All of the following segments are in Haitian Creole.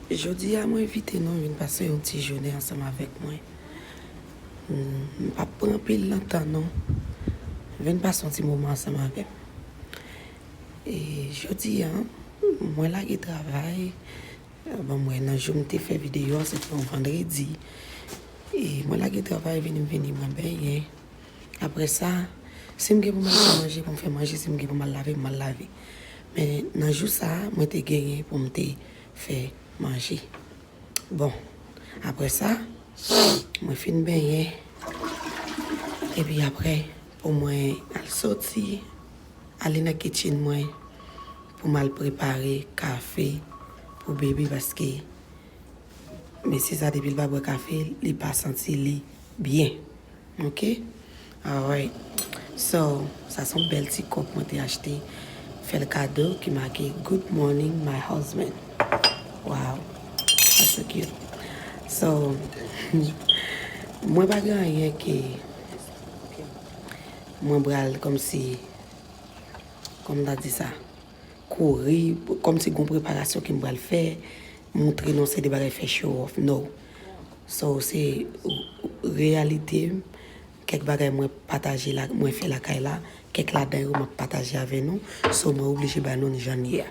Jodi a mwen envite nou vin pase yon ti jounen ansanm avèk mwen. M p ap pran anpil nan tan nou. Vin pase yon ti moman ansanm avè m. E jodi a, mwen lage travay. Bon, mwen nan jou m te fè videyo a, se te yon vandredi. E mwen lage travay, vini m vini m pran benyen. Apre sa, si m gen pou m al fè manje pou m fè manje, si m gen pou m al lave m al lave. Men nan jou sa a, mwen te genyen pou m te fè manje. Bon, apre sa, mwen fin benyen. Epi apre, pou mwen al soti, ale nan kitchen mwen pou m al prepare kafe pou Baby paske mesye sa depi l pa bwè kafe, li pa santi li byen. Ok alright so sa son bèl ti kòp mwen te achte fèl kado ki make good morning my husband waw sa so cute so mwen pa gen anyen ke mwen bral kòmsi kòm ta di sa kouri, kòm si gon preparasyon ke m pral fè, moutre non se de bagay fè show off, no. So, se reyalite m, kèk bagay mwen pataje la, mwen fè lakay la, kèk ladan yo m ap pataje avè nou, so mwen oblije ba nou jan n ye a.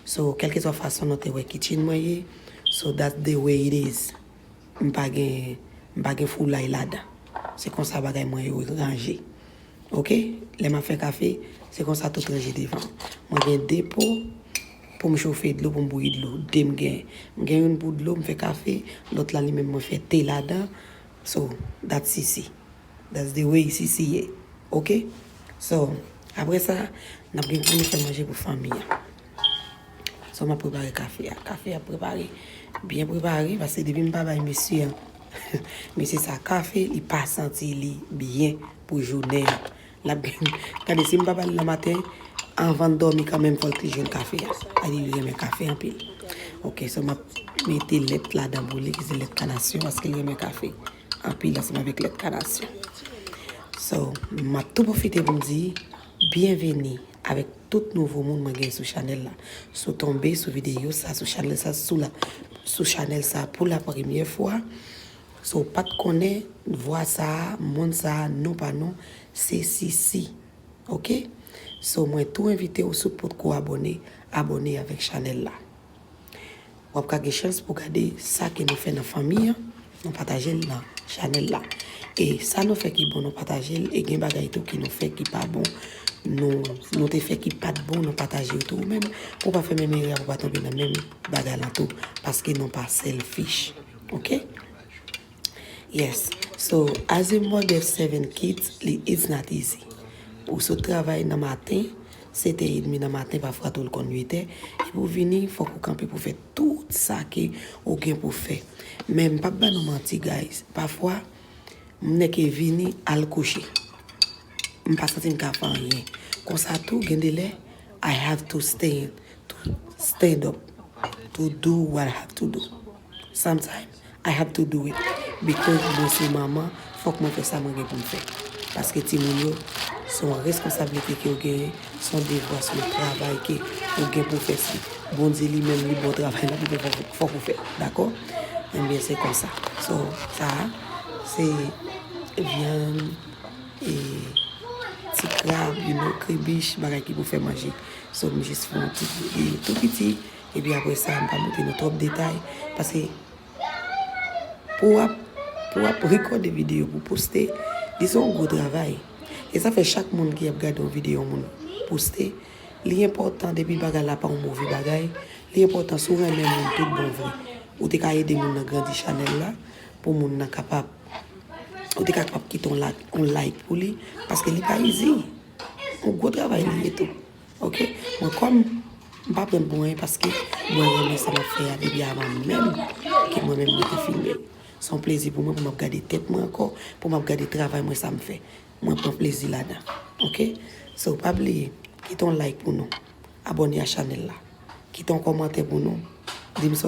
So, kèlkeswa fason nou te wè kitchen mwen ye, so that's the way it is. M pa gen, m pa gen foulay ladan. Se konsa bagay mwen yo ranje. Ok lè map fè kafe se konsa tout ranje devan mwen gen 2 po poum chofe dlo poum bouyi dlo 2 m gen m gen youn pou dlo m fè kafe lòt la li menm mwen fè te ladan so dat sisi that's the way sisi ye ok so aprè sa nap gen poun fè manje pou fanmi an. Sèlman ap prepare kafe a. Kafe a ap prepare. Byen prepare. Paske depi m pa bay mesye an. Mesye sa kafe, li pa santi li byen pou jounen an. L ap byen. Gade si m pa ba l nan maten, anvan l dòmi kanmenm fò l te jwenn kafe a. A li li renmen kafe anpil. Ok, sèl m ap mete lèt ladan pou li, ki se lèt kanasyon. Paske li renmen kafe anpil ansanm avèk lèt kanasyon. So, m ap tou pwofite pou m di, byenveni avèk. tout nouvo moun mwen gen sou chanèl la si w tonbe sou videyo sa sou chanèl sa si w la sou chanèl sa pou la premyè fwa si w pat konnen vwa sa moun sa non pa nou se Sisi ok so mwen tou envite w si w potko abòne abòne avèk chanèl la. Wap ka gen chans pou gade sa ke nou fè nan fanmi an, nou pataje l nan chanèl la. E sa nou fè ki bon nou pataje l, e gen bagay tou ki nou fè ki pa bon, nou te fè ki pat bon nou pataje yo tou ou menm pou w pa fè menm erè a pou w pa tonbe nan menm bagay lan tou paske nou pa selfish ok. Yes so as a mother seven kids li it's not easy pou w sot travay nan maten 7 è edmi nan maten pafwa tou l konn 8 è epi w vini fòk ou kanpe pou w fè tout sa ke ou gen pou w fè men m pap ba nou manti guys pafwa m nèke vini al kouche m pa santi m ka fè anyen konsa tou gen de lè I have to stand up to do what I have to do sometimes I had to do it because mwen se manman fòk mwen fè sa mwen gen pou m fè paske timoun yo se yon responsablite ke w genyen se yon devwa se yon travay ke ou gen pou w fè si Bondye li menm li ba w travay la li fè fòk ou fè l dakò enben se konsa so sa a se vyann e ti krab you know kribich bagay ki pou fè manje so m jis fè yon ti tou piti Epi apre sa, m pa montre nou twòp detay, paske pou w ap, pou w ap rekòde videyo pou w poste, li se yon gwo travay. E sa fè chak moun ki ap gade yon videyo yon moun poste, li enpòtan depi bagay la pa yon move bagay, li enpòtan si w renmen moun tout bon vre, ou te ka ede moun nan grandi chanèl la, pou moun nan kapab, ou te kapab kite yon like pou li, paske li pa izi, yon gwo travay li ye tou. Ok mwen kom m pa pranl pou anyen paske mwen renmen sa map fè a depi avan menm ke mwen menm mwen te filme l se yon plezi pou mwen pou map gade tèt mwen ankò pou map gade travay mwen sa m fè mwen pran plezi ladan ok so pa bliye kite yon like pou nou abòne a chanèl la kite yon kòmantè pou nou dim sa w.